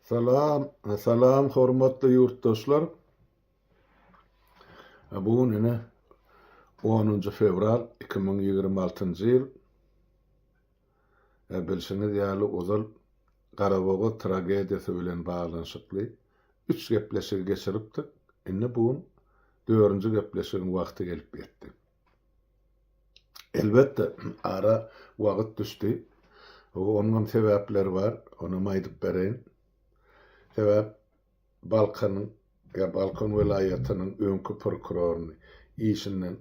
Salam, salam hormatly ýurtdaşlar. Bu gün ine 10-njy fewral 2026-njy ýyl. E, bilşiňiz ýaly ozal Garabogaz tragediýasy bilen baglanyşykly üç gepleşigi geçiripdik. Indi bu gün dördünji gepleşigiň wagty gelip ýetdi. Elbetde, ara wagyt düşdi. Onuňam sebäpleri bar. Onam aýdyp bereýin. Sebäp Balkanyň, ýa Balkan welaýatynyň öňki prokuroryny işinden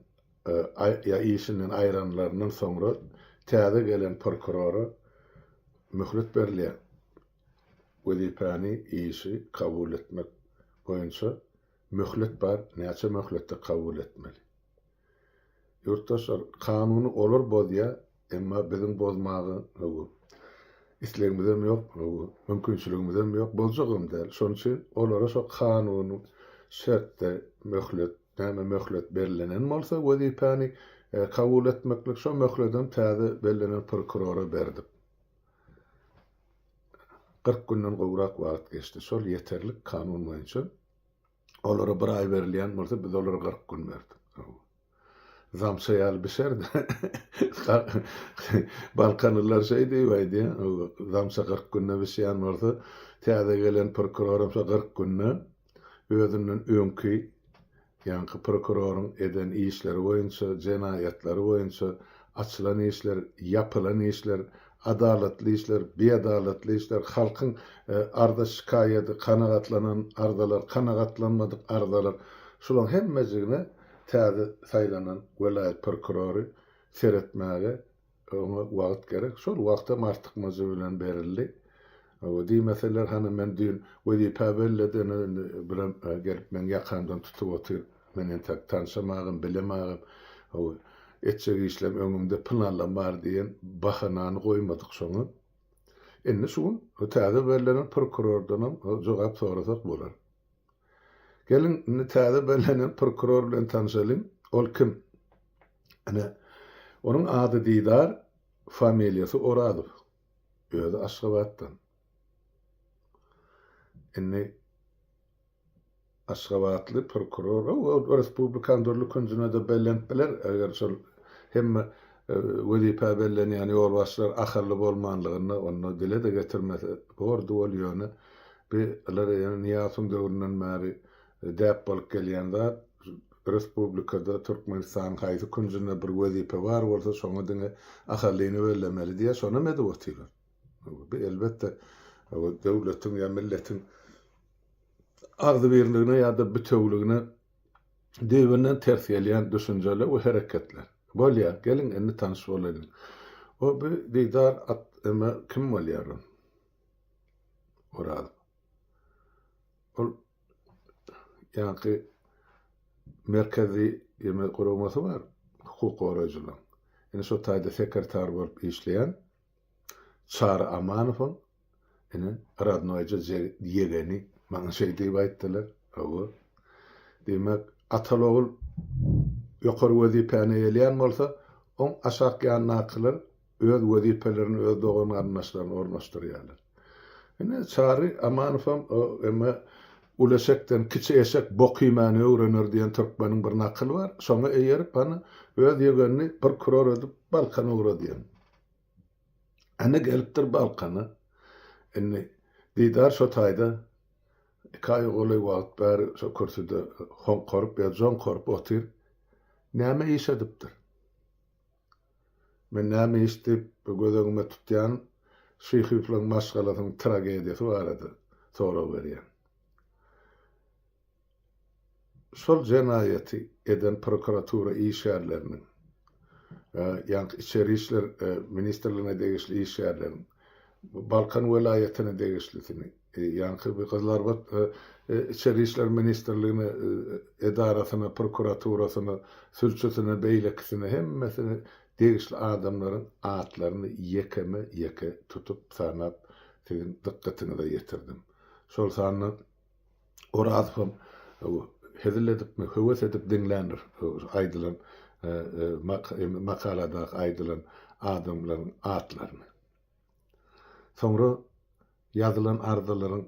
ýa işinden aýranlaryndan soňra täze gelen prokurora möhlet berilýär. Wezipäni, işi kabul etmek boýunça Möhlet bar, näçe möhletde kabul etmeli? Ýurtdaşlar, kanuny olar bozýa, emma biziň bozmaga hawa, islegimizem ýok, hawa, mümkinçiligimizem ýok, boljagam däl. Şonuň üçin olara şo kanuny şertde möhlet, näme möhlet bellenen bolsa wezipäni kabul etmeklik, şo möhledem täze bellenen prokurora berdik. Kyrk günden gowrak wagt geçdi. Şol ýeterlik kanun boýunça. Olara bir aý berilýän bolsa, biz olara kyrk gün berdik. Zamça ýaly bişerdi. Balkanlylar şeý diýip aýdýar, zamça kyrk günde bişýän bolsa, täze gelen prokuroram şo kyrk günde özünden öňki ýaňky prokuroryň eden işleri boýunça, jenaýatlary boýunça, açylan işler, ýapylan işler, adalatly işler, biadalatly işler, halkyň arza-şikaýady, kanagatlanan arzalar, kanagatlanmadyk arzalar, şularyň hemmejigine täze saýlanan welaýat prokurory seretmäge Oňa wagt gerek. Şol wagt hem artykmajy bilen berildi. Hawa, diýmeseler, hany men düýn wezipä belledeniň, indi birem gelip meň ýakamdan tutup otyr. Men entäk tanşamagam, bilemagam. Hawa, etjek işlem öňümde pylanlam bar diýen bahanany goýmadyk şoňa. Indi şu gün täze bellenen prokurordanam jogap sorasak bolar. Geliň, indi täze bellenen prokuror bilen tanşalyň. Ol kim? Ine, onuň ady Didar, familiýasy Orazow. Özi Aşgabatdan. Indi aşgabatly prokuror, ol respublikanyň dürli künjüne-de bellenip biler, eger şol hemme wezipä bellenýän ýolbaşçylar ahally bolmanlygynda, onda dile-de getirmese bordy ol, ýöne Bu lar ýene Nyýazowyň döwründen bäri däp bolup gelýän zat. Respublikada Türkmenistanyň haýsy künjünde bir wezipe bar bolsa, şoňa diňe ahallyny bellemeli diýýär, şonam edip otyrlar. Bu elbetde döwletiň ýa milletiň agzybirligine ýa-da bitewüligine düýbünden ters gelýän düşünjeler we hereketler. Bolýar, geliň indi tanyş bolaýlyň. O bu Didar at, emma kim bolýar ol? Oraz. Ol ýaňky merkezi ýeme guramasy bar, hukuk goraýjylaryň. Indi şo taýda sekretar bolup işleýän Çary Amanowyň ine rodnoýja ýegeni maňa şeý diýip aýtdylar. Hawa. Diýmek, atal-ogul ýokary wezipäni eýeleýän bolsa, oň aşakýandakylar öz wezipelerini öz dogan-garyndaşlaryna ornaşdyrýarlar. Ine, Çary Amanowam Emme uly eşekden kiçi eşek bok iýmäni öwrener diýen türkmeniň bir nakyly bar, şoňa eýerip, hany, öz ýegenini prokuror edip Balkana ugra diýen. Ene gelipdir Balkana. Indi Didar şo taýda iki aýa golaý wagt bäri şo kürsüde hoňkaryp ýa joňkaryp otyr. Näme iş edipdir? Men näme iş diýip göz öňüme tutýan şyhyflaň maşgalasynyň tragediýasy barada sorag berýän. Şol jenaýaty eden prokuratura işgärleriniň, ýaňky içeri işler ministrligine degişli işgärleriň Balkan welaýatyna degişlisini, ýaňky bir Gyzylarbat Içeri işler ministrligine edarasyna, prokuraturasyna, sülçüsine, beýlekisine hemmesine degişli adamlaryň atlaryny ýekeme-ýeke tutup sanap siziň dykgatyňyza ýetirdim. Şol sanda Orazhon hezil edipmi, höwes edip diňländir aýdylan makaladaky aýdylan adamlaryň atlaryny. Soňra ýazylan arzalaryň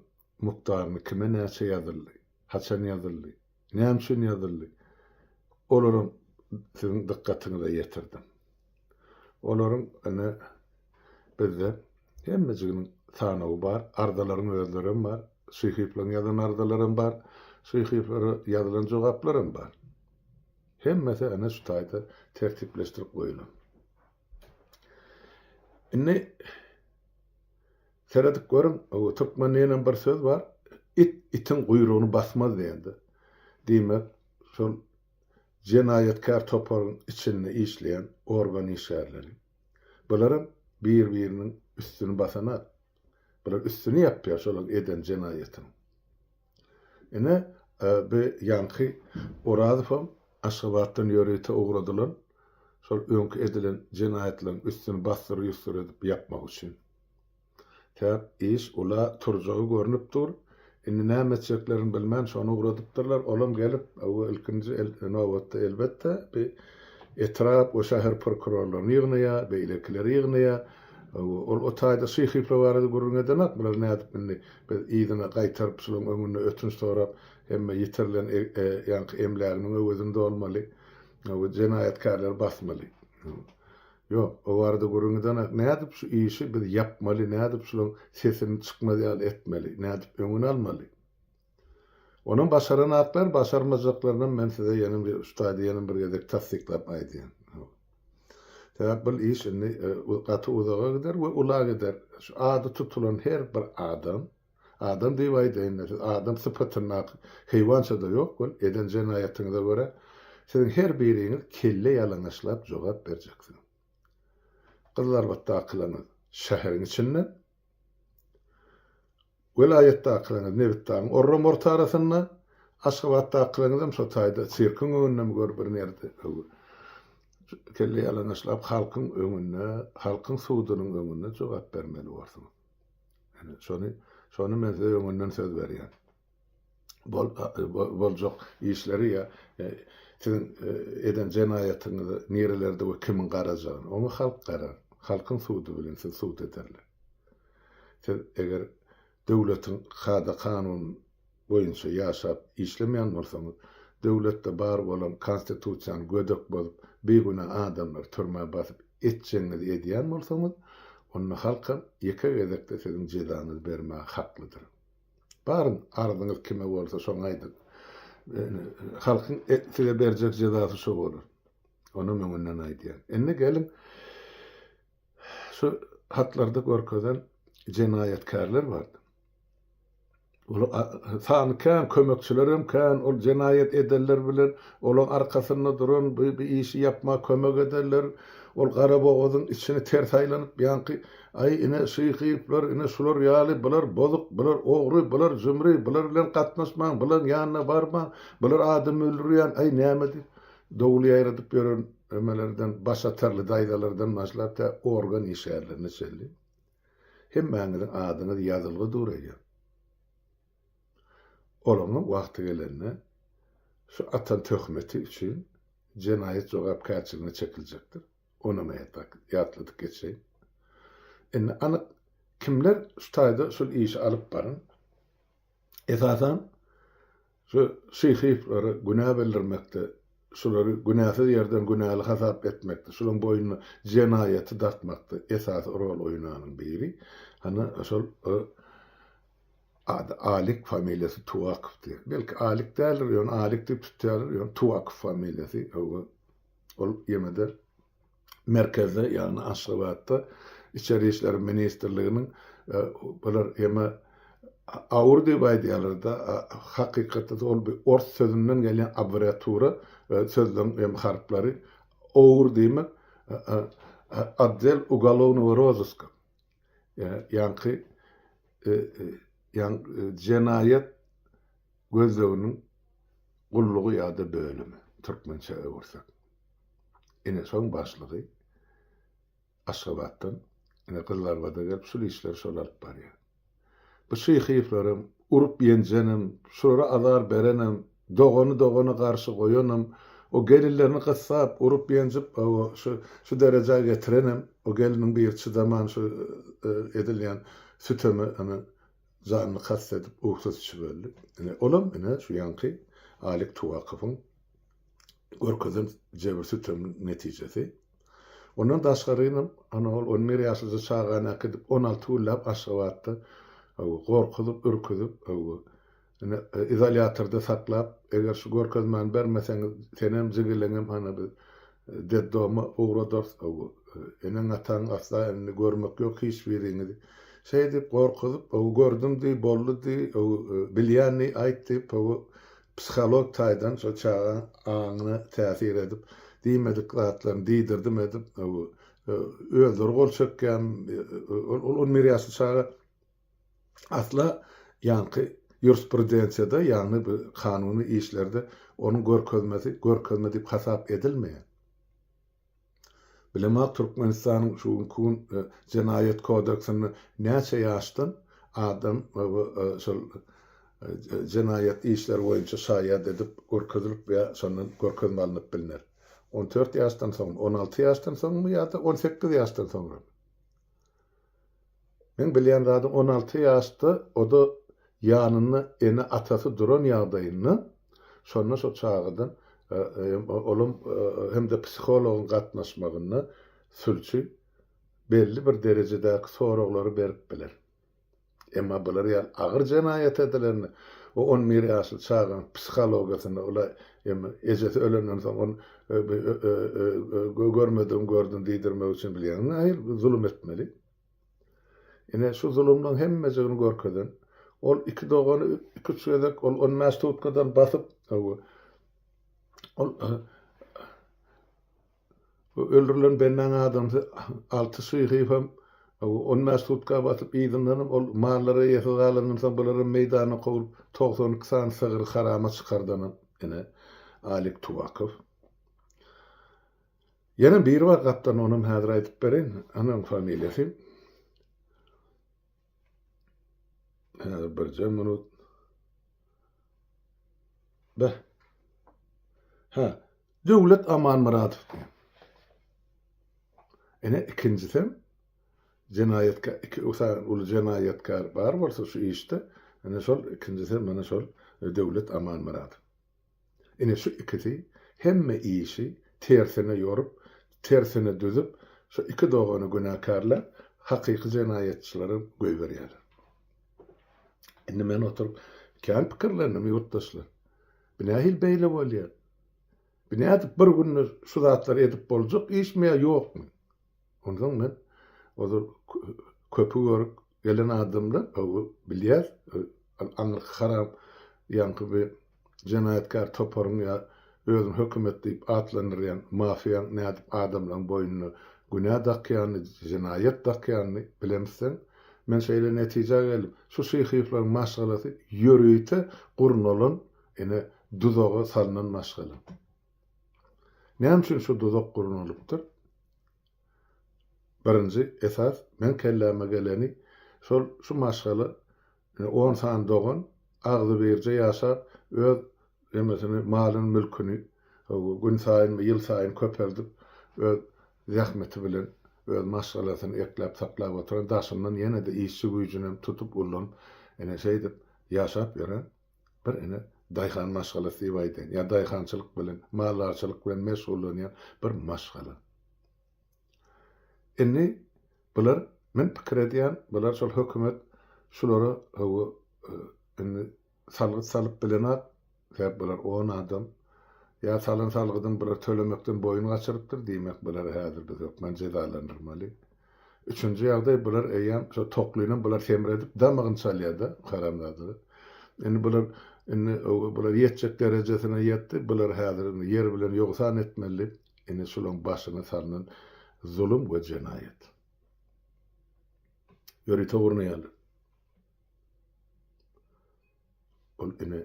mukdaryny kime näçe ýazyldy, haçan ýazyldy, Näme üçin ýazyldy? Olaryň siziň dykgatyňyza ýetirdim. Olaryň ine bizde hemmejiginiň sanawy bar, arzalaryň özleri hem bar, Şyhyýewleriň ýazan arzalary hem bar, Şyhyýewlere ýazylan jogaplar hem bar. Hemmesi ine şu taýda tertipleşdirip goýulan. Indi seredip görüň, türkmenligiňem bir söz bar, it itiň guýrugyny basmaz diýende. Diýmek, şol jenaýatkär toparyň içinde işleýän organ işgärleri. Bularam bir-biriniň üstüni basanok. Bular üstüni ýapýar şolaryň eden jenaýatynyň. Ine, bu ýaňky Orazowam Aşgabatdan ýörite ugradylan, şol öňki edilen jenaýatlaryň üstüni bassyr-ýussyr edip ýapmak üçin. Täk iş ula turjagy görnüp dur. Indi näme etjeklerini bilmän, şony ugradypdyrlar. Olam gelip, we ilkinji nobatda, elbetde, bu etrap we şäher prokurorlaryny ýygnaýar, beýlekileri ýygnaýar. Ol o taýda şyh-hyplar barada gürrüň edenok, bular nädip indi, Biz yzyna gaýtaryp, şularyň öňünde ötünç sorap, hemme ýitirilen ýaňky emläginiň öwezini dolmaly we jenaýatkärleri basmaly. Ýok, o barada gürrüň gidenak, nädip şu işi biz ýapmaly, nädip şularyň sesini çykmaz ýaly etmeli, nädip öňüni almaly? Onam başaranaklar, başarmajaklarynam men size ýene şu taýda ýene bir gezek tassyklap aýdýan. Sebäp bul iş indi gaty uzaga gider we ula gider. Şu ady tutulan her bir adam, adam diýip aýdaýynda siz adam sypatyndaky heýwançada ýok bol, eden jenaýatyňyza görä siziň her biriňiz kelle ýalaňaçlap jogap berjeksiňiz. Gyzlarbatdakylaňyz şäheriň içinden. Welaýatdakylaryňyz nebitdagyň orramorty arasynda, Aşgabatdakylaryňyzam şo taýda sirkiň öňündemi gör bir nerde öwi. Kelle ýalaňaçlap halkyň öňünde, halkyň sudunyň öňünde jogap bermeli borsuňyz. Ine, şony, şony men size öňünden söz berýän. boljak işleri ýa siziň eden jenaýatyňyzy nirelerde we kimiň garajagyny, oňa halk garar. Halkyň sudy bilen sizi sud ederler. Siz eger döwletiň kada-kanun boýunça ýaşap işlemeýän bolsaňyz, döwletde bar bolan konstitusiýany gödek bozup, bigünä adamlary türmä basyp etjegiňizi edýän bolsaňyz, onda halkam ýeke gezekde siziň jezaňyzy bermäge haklydyr. Baryň, arzyňyz kime bolsa, şoňa aýdyň. Halkyň size berjek jezasy şo bolar. Onam öňünden aýdýan. Indi geliň, şu hatlarda görkezen jenaýatkärler bardy. Ol sany kän, kömekçiler hem kän, ol jenaýat edenler bilen olaň arkasynda duran, bu işi ýapmaga kömek edenler, ol Garabogazyň içini ters aýlanyp, ýaňky Aý, ine, şy hyplar, ine, şular ýaly, bular bozuk, bular ogry, bular jümri, bular bilen gatnaşmaň, bulaň ýanyna barmaň, bular adam öldürýän, aý, näme diýip, dowul ýaýradyp ýören ömelerden, başatarly daýzalardan başlap tä organ işgärlerine çenli hemmäňiziň adyňyz ýazylgy dur eýýäm. Olaňam wagty gelende şu atan töhmeti üçin jenaýat jogapkärçiligine çekiljekdir. Ony men ýatrak ýatladyp geçeýin. Indi anyk kimler şu taýda şul işi alyp baran? Esasan şu şyhyflara günä bildirmekde, şulary günäsiz ýerden günäli hasap etmekde, şularyň boýnuna jenaýaty dartmakda esasy rol oýnanyň biri, hany şol o ady Alik, familiýasy Tuwakowdy. Belki Alik däldir, ýöne Alik diýip tutýarlar, ýöne Tuwakow familiýasy, hawa. Ol ýene-de merkezde, ýagny Aşgabatda Içeri işler ministrliginiň bular ýeme aur diýip aýdýarlar-da, hakykatda-da ol bir ors sözünden gelýän abreatura, sözleň ýeme harplary, aur diýmek, Otdel ugolovnogo rozyska. ýaňky jenaýat gözleginiň gullugy ýa-da bölümi, türkmençä öwürsek. Ine, şoň başlygy Aşgabatdan, ine, Gyzylarbada gelip, şul işleri şol alyp barýar. Bu şyhyflaram, urup-ýenjenem, şulara azar berenem, dogany dogana garşy goýanam, o gelinlerini gyssap, urup-ýenjip, hawa, şu, şu derejä getirenem, o gelniň biri çydaman şu edilýän süteme, ine, janyny kast edip, uhsat içip öldi. Ine, olam, ine, şu ýaňky Alik Tuwakowyň. görkezen jebir-süteminiň netijesi. Ondan daşgarynam, ana, ol on bir ýaşlyja çagany äkidip, on alty günläp Aşgabatda gorkuzyp, ürküzip, ine, izolýatorda saklap, eger şu görkezmäni bermeseňiz, senem, jigeleňem, ana, biz detdoma ugradarys, eneň-ataňyň asla indi görmek ýok hiç biriňizi. Şeýdip, gorkuzyp, gördüm diý, boldy diý, bilýän diý, aýt diýip, Psiholog taýdan şo çagaň aňyna täsir edip, diýmedik zatlaryny diýdirdim edip, özleri gol çekýän, ol on bir ýaşly çaga asla ýaňky ýurisprudensiýada, ýagny bu kanuny işlerde onuň görkezmesi görkezme diýip hasap edilmeýär. Bilemok Türkmenistanyň şu günki gün jenaýat kodeksinde näçe ýaşdan adam şol jenaýat işleri boýunça şaýat edip görkezilip ýa şondan görkezme alnyp bilner. On dört ýaşdan soňmy, on alty ýaşdan soňmy ýa-da on sekiz ýaşdan soňramy? Meň bilýän zady on alty ýaşda, o-da ýanynda ene-atasy duran ýagdaýynda, şonda şo çagadan, olam hem-de psihologyň gatnaşmagynda sülçi belli bir derejedäki soraglary berip biler. Emma bular ýaly agyr jenaýat edilende we on bir ýaşly çagaň psihologiýasynda ola emma ejesi ölenden soň ony görmedigim gördüm diýdirmek üçin bilýäňmi nähili zulum etmeli. Ine şu zulumlaryň hemmejigini görkezen ol iki dogany iki üç gezek ol on bäş tutkadan basyp ol Bu öldürilen bennaň adamsy Alty Şyhyýew hem on bäş sutka basyp, yzyndanam ol mallary eýesiz galandan soň bularam meýdana kowlup, togsan iki sany sygyry harama çykardanam ine, Alik Tuwakow. Ýene biri bar gapdan, onam häzir aýdyp bereýin, anaň familiýasy. Häzir birje minut. Be. Ha, Döwlet Amanmyradow diýen. Ene ikinjisi jenaýatka iki usa uly jenaýatkar bar bolsa şu işde, ene şol ikinjisi mana şol e, Döwlet Amanmyradow. Ine şu ikisi hemme işi tersine ýorup, tersine düzüp, şu iki dogany günäkärläp, hakyky jenaýatçylary goýberýärler. Indi men oturyp kän pikirlendim, ýurtdaşlar. Bu nähili beýle bolýar? Bu nädip bir günde şu zatlary edip boljak işmi ýa ýokmy? Onsoň men ozal köpi görüp gelen adamlar, bilýär, aňyrky haram ýaňky bir jenaýatkär toparyň ýa özüni hökümet diýip atlandyrýan mafiýaň nädip adamlaň boýnuna günä dakýanyny, jenaýat dakýanyny bilemizseň, men şeýle netijä geldim, şu şyhyýewlaryň maşgalasy ýörite gurnalan ine duzaga salnan maşgala. Näme üçin şu duzak gurnalypdyr? Birinji esas meň kelläme geleni şol şu maşgala On sany dogan agzybirje ýaşap, öz nemesini, malyny, mülküni günsaýyn we ýylsaýyn köpeldip, öz zähmeti bilen öz maşgalasyny ekläp-saklap oturan, daşyndan ýene-de işçi güýjünem tutup, ullanyp, ine, şeýdip ýaşap ýören bir, ine, daýhan maşgalasy diýip aýdaýyn. Ýa daýhançylyk bilen, maldarçylyk bilen meşgullanýan bir maşgala. Indi bular men pikir edýän bular şol hökümet şulara hawa indi salgyt salyp bilenok sebäp bular on adam ýa salan salgydyny bular tölemekden boýun gaçyrypdyr diýmek bulary häzir biz hökmän jezalandyrmaly üçünji ýagdaý bular eýýäm şo toklynam bular semredip damagyny çalýada haramzadalar indi bular indi hawa bular ýetjek derejesine ýetdi bulary häzir indi ýer bilen ýogsan etmeli Ine şulaň başyna salnan zulum we jenaýat. Ýörite urna ýaly. Ol ine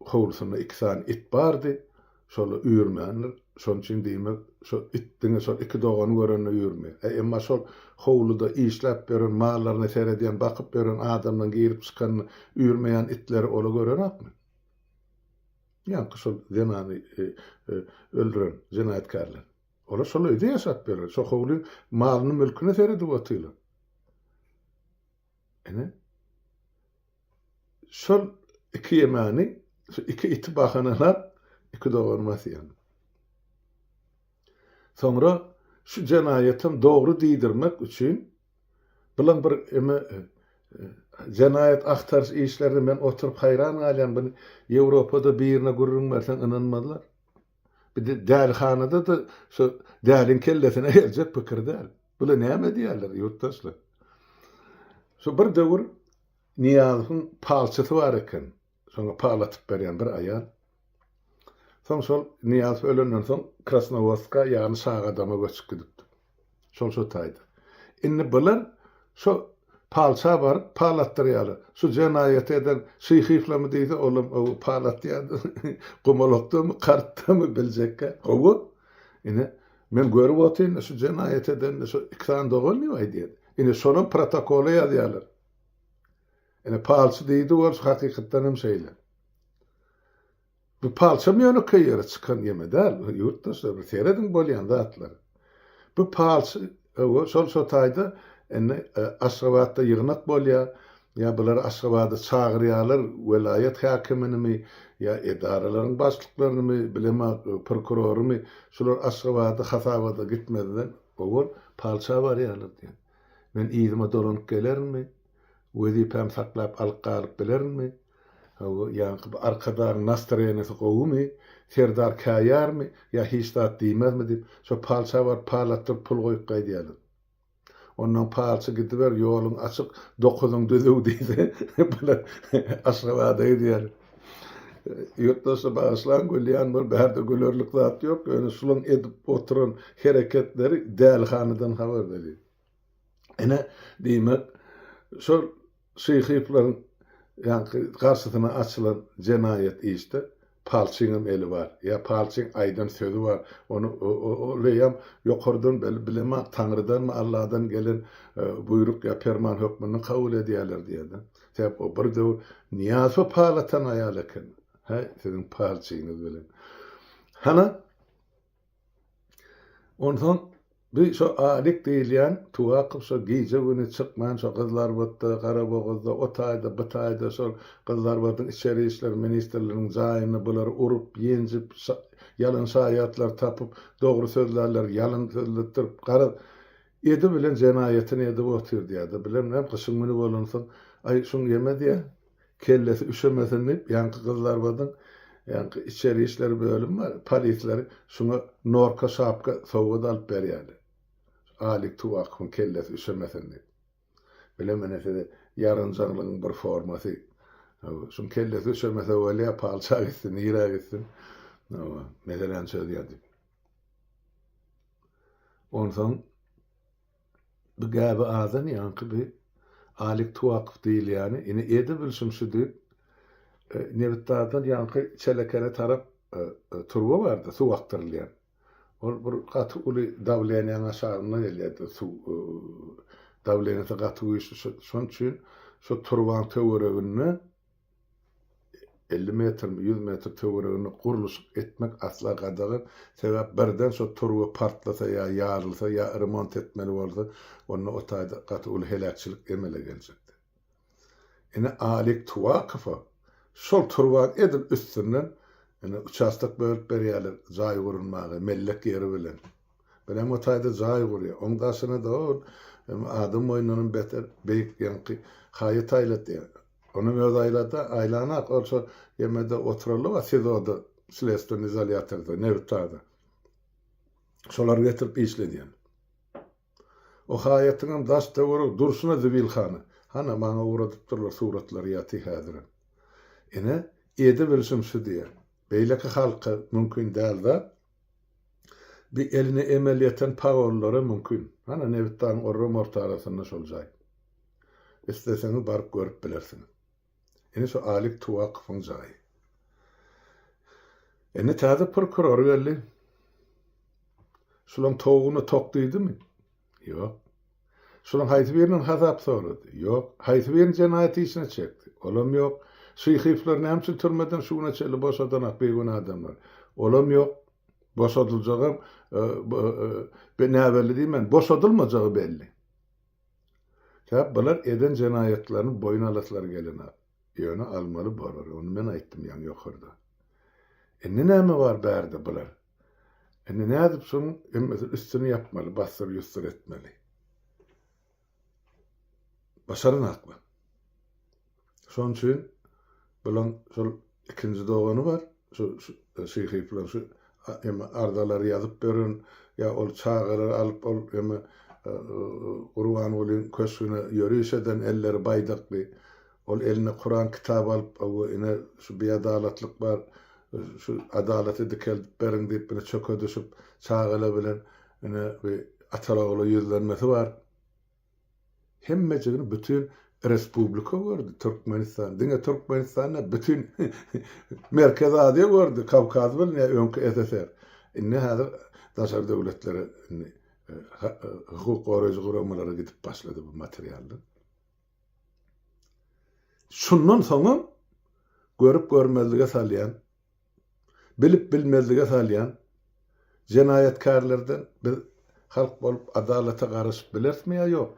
howlusynda iki sany it bardy. Şola üýrmändir. Şonuň üçin diýmek, şo it diňe şol iki dogany görende üýrmeýär. E, emma şol howluda işläp ýören, mallaryna seredýän, bakyp ýören adamlaryň girip çykanyny üýrmeýän itleri ola görenokmy? Ýaňky şol zenany öldüren jenaýatkärler. Olar şol öýde ýaşap ýörler. Şo howlyň malyny mülküne seredip otyrlar. Ene. Şol iki ýemany, şu iki iti bahanalap, iki doganymy asýan. Soňra şu jenaýatam dogry diýdirmek üçin Bulam bir eme jenaýat agtaryş işlerine men oturyp haýran galýan buny Ýewropada birine gürrüň berseň ynanmazlar. Bir de dälihanada-da şu däliň kellesine geljek pikir däl. Bula näme diýerler ýurtdaşlar. Şu bir döwür Nyýazowyň palçysy bar eken. Soňra pal atyp berýän bir aýal. Soň şol Nyýazow ölenden soň Krasnowodska ýagny Şagadama göçüp gidipdir. Şol şu taýda. Indi bular şo palça baryp pal atdyrýarlar. Şu jenaýaty eden Şyhyýewlamy diýse olam ow pal atýar gumalakdamy kartdamy biljekkä gowy. Ine men görüp otyryn şu jenaýaty edende şu iki sany dogan diýip aýdýar. Indi şolam protokola ýazýarlar. Ine palçy diýdi Wors hakykatdan hem şeýle. Bu palçam ýönekeý ýere çykan gemi däl, ýurtdaşlar bir serediň bolýan zatlary. Bu palçy öwü şol şo taýda indi e, Aşgabatda ýygnak bolýar, ýa bulary Aşgabada çagyrýarlar, welaýat häkiminimi ýa edaralaryň başlyklarynymy, bilema e, prokurorymy, şular Aşgabada hasabada gitmezden owal palça barýarlar diýen. Men yzyma dolanyp gelerinmi? Wezipämi saklap alyp galyp bilerinmi? Hawa, ýaňky bu arkadagyň nastroýeniýesi gowymy? Serdar käýärmi? Ýa hiç zat diýmezmi diýip, şo palça baryp parlatdyryp pul goýup gaýdýarlar. Onnoň palçy gidiber, ýoluň açyk, dokuzyň düzüw diýse, bular Aşgabada gidýär. Ýurtdaşlar bagyşlaň, gülýän bolup, bärde gülerlik zat ýok, ýöne şularyň edip oturan hereketleri dälihanadan habar berýär. Ine, diýmek, şol Şyhyýewleriň ýaňky garşysyna açylan jenaýat işde Palçyňam eli bar. Ýa Palçyň aýdan sözi bar. Ony oleýem ýokardan bilemok, Taňrydanmy, Alladan gelen buýruk ýa perman hökmünde kabul edýärler diýýärdi. Sebäp o bir döwür Nyýazow pal atan aýal eken. Häý, siziň Palçyňyz bilen. Hana, Onsoň bu şo Alik diýilýän Tuwakow şo gije-güni çykman şo Gyzlarbatda, Garabogazda, o taýda, bu taýda şol Gyzlarbadyň içeri işler ministrliginiň jaýyny bulary urup, ýenjip, ýalan şaýatlar tapyp, dogry sözlärler ýalan sözletdirip, garaz, edi bilen jenaýatyny edip otyr diýýär-de, bileminem gyşyň güni bolansoň, Aý, şuň ýeme diýýär. Kellesi üşemesin diýip, ýaňky gyzlarymyzyň ýaňky içeri işler bölümi bar, polisleri şuňa norka şapka sowgat alyp berýärler. Alik Tuwakowyň kellesi üşemesin diýip. Bile menä size ýarynjaňlygyň bir formasy. Hawa, şuň kellesi üşemese bolýa, palça gitsin, nirä gitsin. Hawa, meseläni çözýär diýip. Onsoň Bu gäbi azan ýaňky bi Alik Tuakow diýilýäni, ine ede bilşim şu diýip, nebitdardan ýaňky çelekene tarap turba bardy, suw akdyrylýan. Ol bir gaty uly dawleniýäň aşagynda gelýärdi suw, dawleniýesi gaty güýçli, şo-şonuň üçin şu turbaň töwereginde, elli metrmi, ýüz metr töwereginde gurluşyk etmek asla gadagan. Sebäp birden şo turba partlasa ýa ýarylsa, ýa remont etmeli bolsa, onda o taýda gaty uly heläkçilik emele geljekdi. Ine Alik Tuwakowa şol turban edil üstünden ine uçastok bölüp berýärler jaý gurulmaga, mellek ýeri bilen. Bir hem o taýda jaý gurýar. Oň daşyna-da ol adam boýundanam beter beýik ýaňky haýat aýlatýar. Onuň öz aýlada, aýlanak ol şo ýemede oturallyba sizoda, slesdwony izolýatorda, nebitdada. Şolar getirip işledýän. O haýatyňam daş töweregi durşuna zibilhana. Hana, maňa ugradyp durlar suratlary ýaty häzirem. Ine, edebilişim şu diýýän. Beýleki halka mümkin däl zat. Bi eline emel ýeten pagonlara mümkin. Hana nebitdanyň orram ortarasynda şol jaý. Isleseňiz baryp görüp bilersiňiz. Ine şu Alik Tuwakowyň jaýy. Indi täze prokuror geldi. Şulaň towugyna tok diýdimi? Ýok. Şunuň haýsy biriniň hasap sorady? Ýok. Haýsy birini jenaýat işine çekdi? Olam ýok. Şyhyflary näme üçin türmeden şu güne çenli boşadanak bigünä adamlar? Olam ýok. Boşadyljagam be näbelli diýmän, boşadylmajagy belli. Sebäp bular eden jenaýatlaryny boýun alaslary gelenok. Ýöne almaly bolar. Ony men aýtdym ýaňy ýokarda. Indi näme bar bärde bular? Indi nädip şoň hemmesini üstüni ýapmaly, bassyr ýussyr etmeli. Başaran hakmy? Şoň üçin bulaň şol ikinji dogany bar, şu şyhy plan şu hem arzalar ýazyp beren, ýa ol çagalary alyp ol hem Gurbangulyň köşgüne ýöriş eden elleri baýdakly. Ol eline Kuran kitaby alyp, Hawa, ine, şu biadalatlyk bar, şu adalaty dikeldip beriň diýip, ine, çöke düşüp, çagalar bilen, ine, bi atalar-ogullar ýüzlenmesi bar. Hemmejigini bütin respublika gördi, Türkmenistan, diňe Türkmenistan däl, bütin Merkezi Aziýa gördi, Kawkaz bilen ýa öňki SSR. Indi häzir daşary döwletlere, indi hukuk goraýjy guramalara gidip başlady bu materiallar. Şundan soňam görüp-görmezlige salýan, bilip-bilmezlige salýan jenaýatkärlerden biz halk bolup adalata garaşyp bilerismi ýa ýok?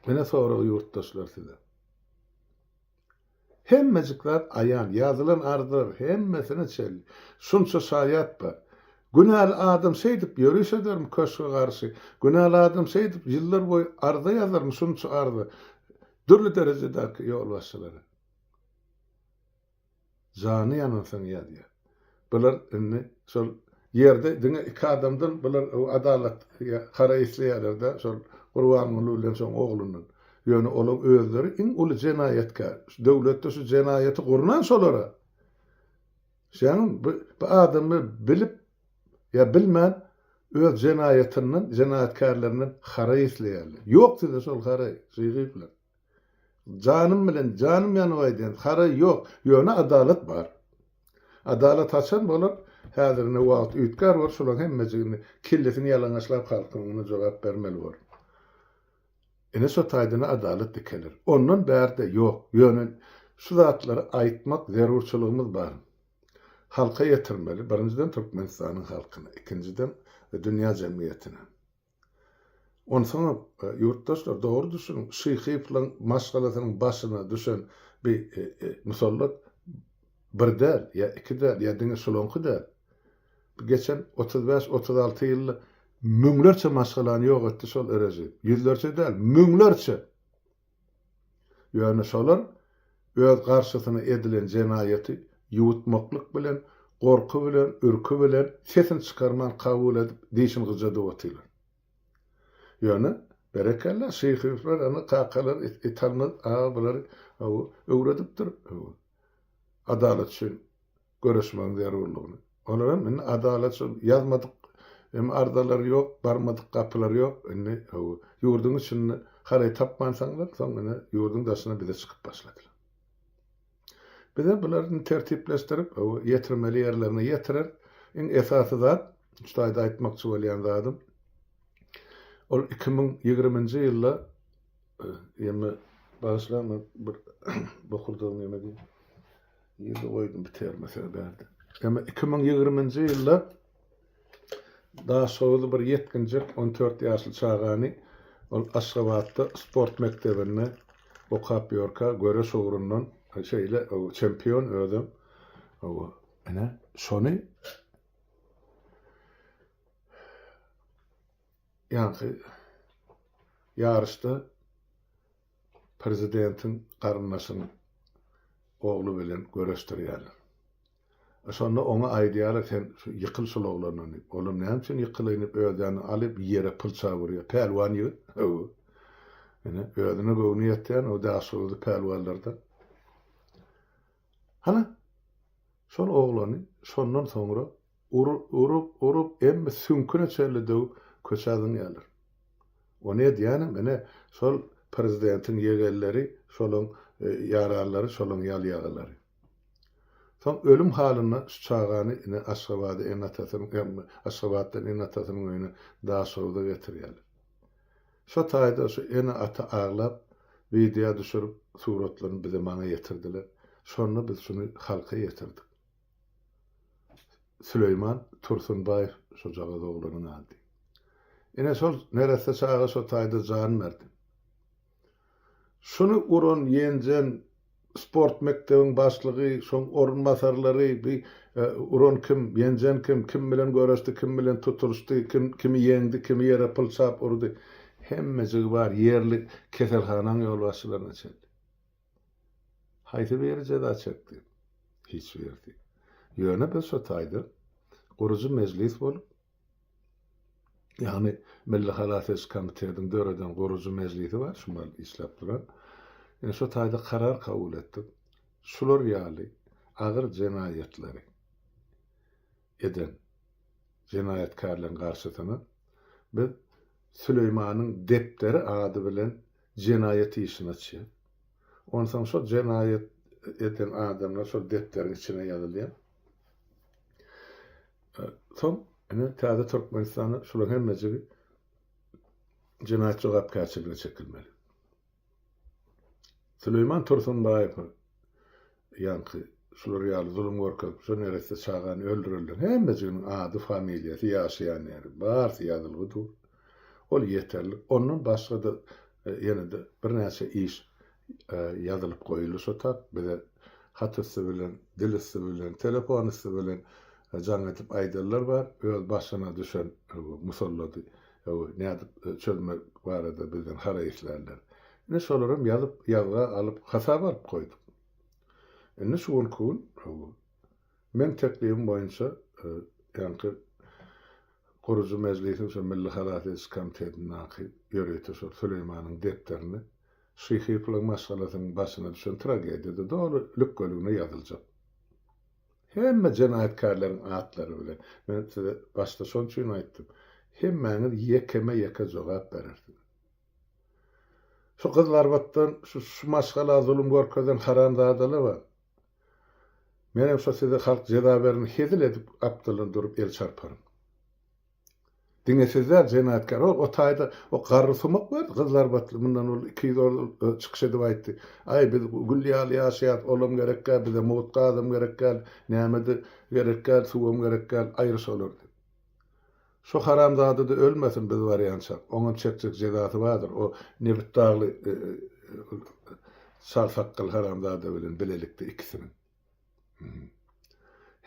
Ine sorag ýurtdaşlar size. Hemmejik zat aýan, ýazylan arzlar hemmesine çenli. Şunça şaýat bar. Günäli adam şeýdip ýöriş edermi köşge garşy? Günäli adam şeýdip ýyllar boýy arza ýazarmy şunça arza dürli derejedäki ýolbaşçylara? Jany ýanansoň ýazýar. Bular indi şol ýerde diňe iki adamdan bular adalat hara isleýärlerdä şol Gurbanguly bilen şoň oglundan. Ýöne olaň özleri iň uly jenaýatkär. Şu döwletde şu jenaýaty gurnan şolara. Şeýle bu adamlar bilip ýa bilmän öz jenaýatyndan, jenaýatkärlerinden haraý isleýärler. Ýok sizde şol haraý, žygyplar. Janym bilen, janym ýanyp aýdýan, haraý ýok. Ýöne adalat bar. Adalat haçan bolar? Häzir indi wagt üýtgär bor, şolaň hemmejigini kellesini ýalaňaçlap halkyň muny jogap bermeli bor. Ine şo taýdan-a adalat dikeler. Ondan bärde ýok. Ýöne şu zatlary aýtmak zerurçylygymyz bar. Halka ýetirmeli, birinjiden Türkmenistanyň halkyna, ikinjiden dünýä jemgyýetine. Onsoňam, ýurtdaşlar, dogry düşüniň, Şyhyýewlaň maşgalasynyň başyna düşen bi musallat bir däl, ýa iki däl, ýa diňe şulaňky däl. Bu geçen otuz bäş, otuz alty ýylda müňlerçe maşgalany ýok etdi şol režim. Ýüzlerçe däl, müňlerçe! Ýöne şolar öz garşysyna edilen jenaýaty ýuwutmaklyk bilen, gorky bilen, ürki bilen, sesini çykarman kabul edip, dişini gyjadyp otyrlar. Ýöne, berekella, şyhyflar, ana, kakalar, italmaz aga bulary, hawa, öwredipdir, hawa, adalat üçin göreşmegiň zerurlygyny. Olar hem indi adalat şol, ýazmadyk hem arzalary ýok, barmadyk gapylary ýok, indi hawa, ýurduň içinde haraý tapmansaňlar, soň ine, ýurduň daşyna bize çykyp başladylar. Bize bular indi tertipleşdirip, hawa, ýetirmeli ýerlerine ýetirer. Iň esasy zat, şu taýda aýtmakçy bolýan zadym, ol iki müň ýigriminji ýylda, ýeme, bagyşlaň, men bir bokurdagymy ýemedin. Ýerde goýdum bir terme söz berdi. Emma iki müň ýigriminji ýylda Daşoguzly bir ýetginjek on dört ýaşly çagany ol Aşgabatda sport mekdebinde okap ýörkä göreş ugrundan şeýle çempion özem oba ine şony ýaňky ýaryşda Prezidentiň garyndaşynyň ogly bilen göreşdirýärler. Şonda oňa aýdýarlar, Sen şu ýykyl şul oglandan diýip. Olam näme üçin ýykylaýyn diýip özäni alyp ýere pylçap urýar. Pälwan ýigit öw. Ine, özüne göwni ýetýän o daşoguzly pälwanlardan. Hany, şol oglany şondan soňra urup, urup, emmi süňküne çenli döwüp köçä zyňýarlar. Ony edýänem ine, şol prezidentiň ýegenleri, şolaň ýaranlary, şolaň ýalýagalary. Soň ölüm halynda şu çagany ine Aşgabada ene-atasynyň, Aşgabatdan ene-atasynyň öýüne Daşogza getirýärler. Şo taýda şu ene ata aglap wideo düşürip suratlaryny bize maňa ýetirdiler. Şonda biz şuny halka ýetirdik. Süleýman Tursunbaýew şojagaz oglanyň ady. Ine şol neresse çaga şo taýda jan berdi. Şuny uran, ýenjen sport mekdebiň başlygy, şoň orunbasarlary, bi uran kim, ýenjen kim, kim bilen göreşdi, kim bilen tutulyşdy, kim kimi ýeňdi, kimi ýere pylçap urdy, hemmejigi bar, ýerli keselhanaň ýolbaşçylaryna çenli. Haýsy biri jeza çekdi? Hiç birisi. Ýöne biz şo taýdan gurujy mejlis bolup, Ýagny Milli halas ediş komitetiň döreden gurujy mejlisi bar, şumal işläp duran. Ine şo taýda karar kabul etdik. Şular ýaly agyr jenaýatlary eden jenaýatkärleriň garşysyna biz Süleýmanyň depderi ady bilen jenaýat işini açýar. Onsoň şo jenaýat eden adamlar şol depderiň içine ýazylýar. Soň ine täze Türkmenistanda şularyň hemmejigi jenaýat jogapkärçiligine çekilmeli. Süleýman Tursunbaýewiň ýaňky şular ýaly zulum görkezip, şu neresse çagany öldürenleriň hemmejiginiň ady, familiýasy, ýaşaýan ýeri, barsy ýazylgy dur. Ol ýeterlik. Ondan başga-da e, ýene-de birnäçe iş ýazylyp goýuldy şo tat. Bize hat üsti bilen, dil üsti bilen, telefon üsti bilen jaň edip aýdanlar bar. Öz başyna düşen musallady nädip çözmek barada bizden haraý islärler. Ine şolaram ýazyp, ýazga alyp, hasaba alyp goýduk. Indi şu günki gün meň teklibim boýunça ýaňky gurujy mejlisiň şu Milli halas ediş komitetindäki ýörite şol Süleýmanyň depderini Şyhyplyň maşgalasynyň başyna düşen tragediýada doly lükgeligine ýazyljak hemme jenaýatkärleriň atlary bilen. Men size başda şon üçin aýtdym, hemmäňiz ýekeme-ýeke jogap berersiňiz. Şu gyzlarbatdan, şu, şu maşgala zulum görkezen haramzadalaba, menem şo size halk jeza berin hezil edip apdylyn durup el çarparyn. Diňe siz däl jenaýatkär ol o taýda o garry sumak berdi gyzlar batly mundan ol iki ýüz ol özi çykyş edip aýtdy aý biz gül ýaly ýaşaýas olam gerek däl bize mugt gazam gerek däl nämede gerek däl suwam gerek däl aýry şolar diýip şo haramzadada ölmesin biz barýança oňam çekjek jezasy bardyr o nebit dagly çal sakgal haramzada bilen bilelikde ikisiniň.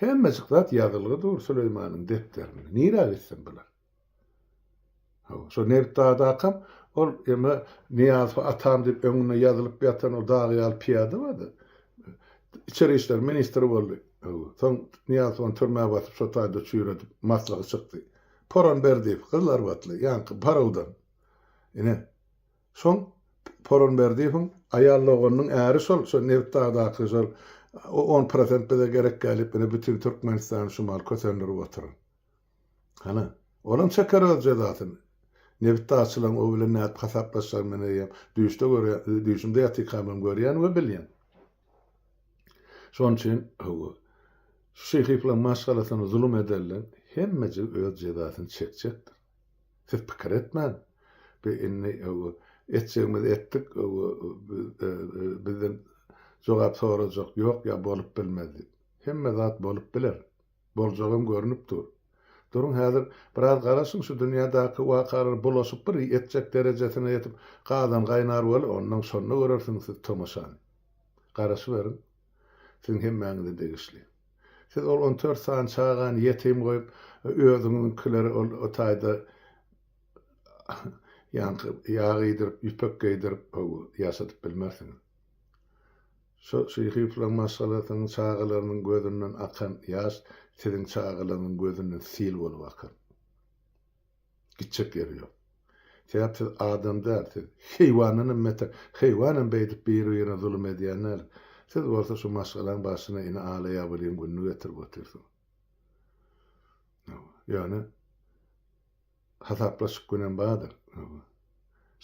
Hemmejik zat ýazylgy dur Süleýmanyň depderinde. Nirä gitsin bular? Hawa, şo Nebit dagdakam ol eme Nyýazow atam diýip öňünde ýazylyp ýatan o dag ýaly pyýada bardy. Içeri işler ministri boldy. Hawa, soň Nyýazowany türmä basyp şo taýda çüýredip maslygy çykdy. Poran Berdiýew gyzlarbatly, ýaňky Barawdan. Ine, Soň Poronberdiýewiň aýal doganynyň äri şol, şo Nebitdagdaky şol o on prosent bize gerekkä diýip ine bütin Türkmenistany şu mal kösendirip oturan. Hany, olam çeker öz jezasyny. Nebitdagçylaň o bilen nädip hasaplaşjagyny men eýýäm düýşde görýän, düýşümde ýatykamam hem görýän we bilýän. Şonuň üçin hawa, şu şyhyplaň maşgalasyna zulum edenleň hemmejigi öz jezasyny çekjekdir. Siz pikir etmäň, bi indi etjegimizi etdik, bizden jogap sorajak ýok ýa bolup bilmez diýip. Hemme zat bolup biler. Boljagam görnüp dur. Duruň häzir biraz garaşyň şu dünýädäki wakalar bulaşyp bir etjek derejesine ýetip gazan gaýnar bol onnoň şonda görersiň siz tomaşany. Garaşyberiň. Siziň hemmäňize degişli. Siz ol on dört sany çagany ýetim goýup, özüňiňkileri ol taýda ýaňky ýag iýdirip, ýüpek geýdirip, hawa, ýaşadyp bilmersiňiz. Şo şyhyflaň maşgalasynyň çagalarynyň gözünden akan ýaş siziň çagalaryňyň gözünden sil bolup akar. Gitjek ýeri ýok. Sebäp siz adam däl, siz heýwandanam beter. Heýwanam beýdip bir-birine zulum edýän däl. Siz bolsa şu maşgalaň başyna ine ala-ýabylyň gününi getirip otyrsyňyz. Ýöne hasaplaşyk günem bardyr.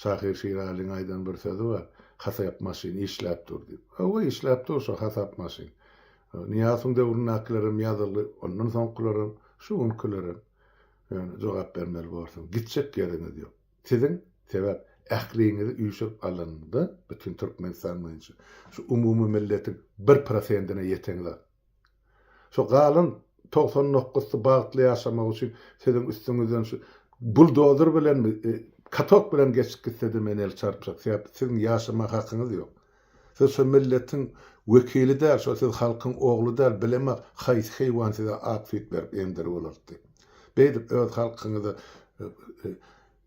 Şahyr Şiralyň aýdan bir sözi bar, Hasap maşyn işläp dur diýip. Hawa, işläp dur şo hasap maşyn. Nyýazowyň döwründäkilerem ýazyldy, ondan soňkularem, şu günkilerem. Ýöne jogap bermeli borsuň. Gitjek ýeriňiz ýok. Siziň, sebäp, ähliňizi üýşürip alanda, bütin Türkmenistan boýunça, şu umumymilletiň bir prosentine ýeteňzok. Şo galan togsan nokgusy bagtly ýaşamak üçin siziň üstüňizden şu buldozer bilenmi, katok bilen geçip gitsede men el çarpjak, sebäp siziň ýaşama hakyňyz ýok. Siz şo milletiň wekili däl, şo siz halkyň ogly däl, bilemok haýsy heýwan size ak süýt berip emdirip ulaltdy. Beýdip öz halkyňyza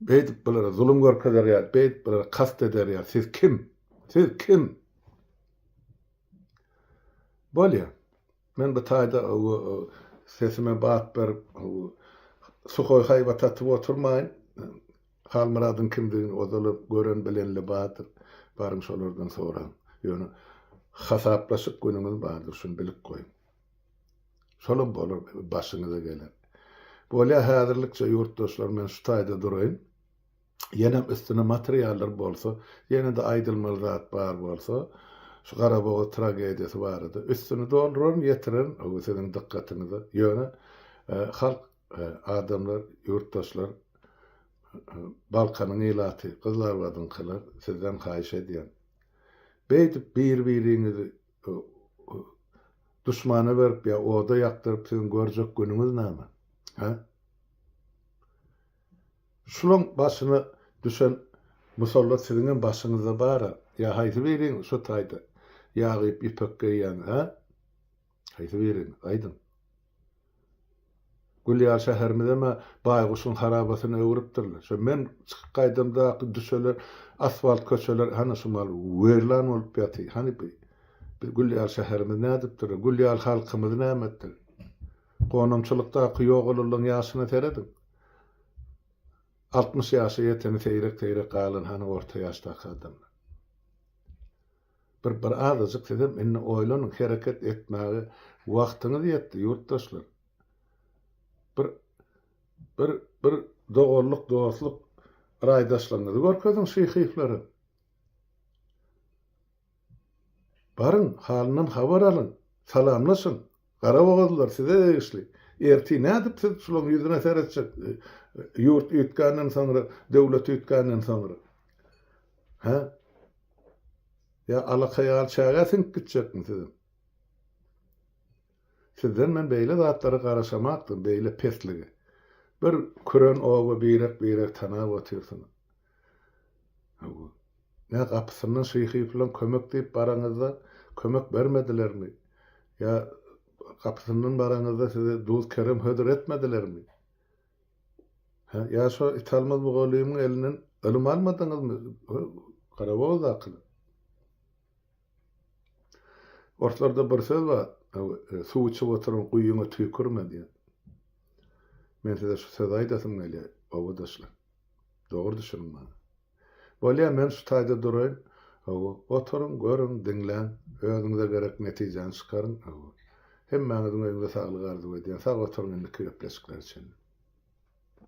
beýdip bulara zulum görkezer ýaly, beýdip bulara kast eder ýaly siz kim? Siz kim? Bolýa. Men bu taýda sesime bat berip, suhoý haýbat atyp oturmaýyn. Halmyradyň kimdigini ozaly gören bilenli bardyr. Baryň şolardan soraň. Ýöne hasaplaşyk günüňiz bardyr, şuny bilip goýuň. Şolam bolar, başyňyza geler. Bolýa, häzirlikçe ýurtdaşlar men şu taýda duraýyn. Ýenem üstüne materiallar bolsa, ýene-de aýdylmaly zat bar bolsa, şu Garabogaz tragediýasy barada üstüni dolduraryn, ýetirerin bu siziň dykgatyňyza. Ýöne halk, adamlar, ýurtdaşlar, Balkanyň ilaty, Gyzlarbadyňkylar, sizden haýyş edýän. Beýdip bir-biriňizi duşmana berip ýa oda ýakdyryp siziň görjek günüňiz näme? Hä? Şulaň başyna düşen musallat siziňem başyňyzda bar-a. Ýa haýsy biriňiz şu taýda ýag iýip ýüpek geýýän, hä? Haýsy biriňiz, aýdyň. Gülýar şäherimizem-ä baýguşyň harabasyna öwrüpdirler. Şu men çykyp gaýdamdaky düşelen asfalt köçeler hany şumal weýran bolup ýaty. Hany bi, biz Gülýar şäherimiz nädipdir? Gülýar halkymyz näme etdi? Gonamçylykdaky ýogalylygyň ýaşyna serediň. Altmyş ýaşa ýeteni seýrek-seýrek galan hany orta ýaşdaky adamlar. Bir bir azajyk sizem indi oýlanyň, hereket etmäge wagtyňyz ýetdi, ýurtdaşlar. Bir bir bir doganlyk, dostluk raýdaşlygyňyzy görkeziň şyhyflara. Baryň, halyndan habar alyň, salamlaşyň. Garabogazlylar size degişli. Ertir nädip siz şulaň ýüzüne seretjek, ýurt üýtgänden soňra, döwlet üýtgänden soňra? Hä? Ýa alaka ýaly çägä siňip gitjekmi siziň? Sizden men beýle zatlara garaşamakdym, beýle pesligi. Bir küren oba birek-birek tanap otyrsyňyz. Hawa. Nä, gapysyndan şyhy-pylan kömek diýip baraňyzda, kömek bermedilermi? Ýa gapysyndan baraňyzda size duz-kerem hödür etmedilermi? Hä, ýa şo italmaz mugallymyň elinden ylym almadyňyzmy, garawuldakylar? Orslarda bir söz bar, Suw içip oturan guýyňa tüýkürme diýen. Men size şu sözi aýdasym gelýär, obadaşlar. Dogry düşüniň maňa. Bolýa, men şu taýda duraýyn. Hawa, oturyň, görüň, diňläň, özüňize gerek netijäni çykaryň. Hawa. Hemmäňiziň öýüňize saglyk arzuw edýän. Sag oturyň indiki gepleşiklere çenli.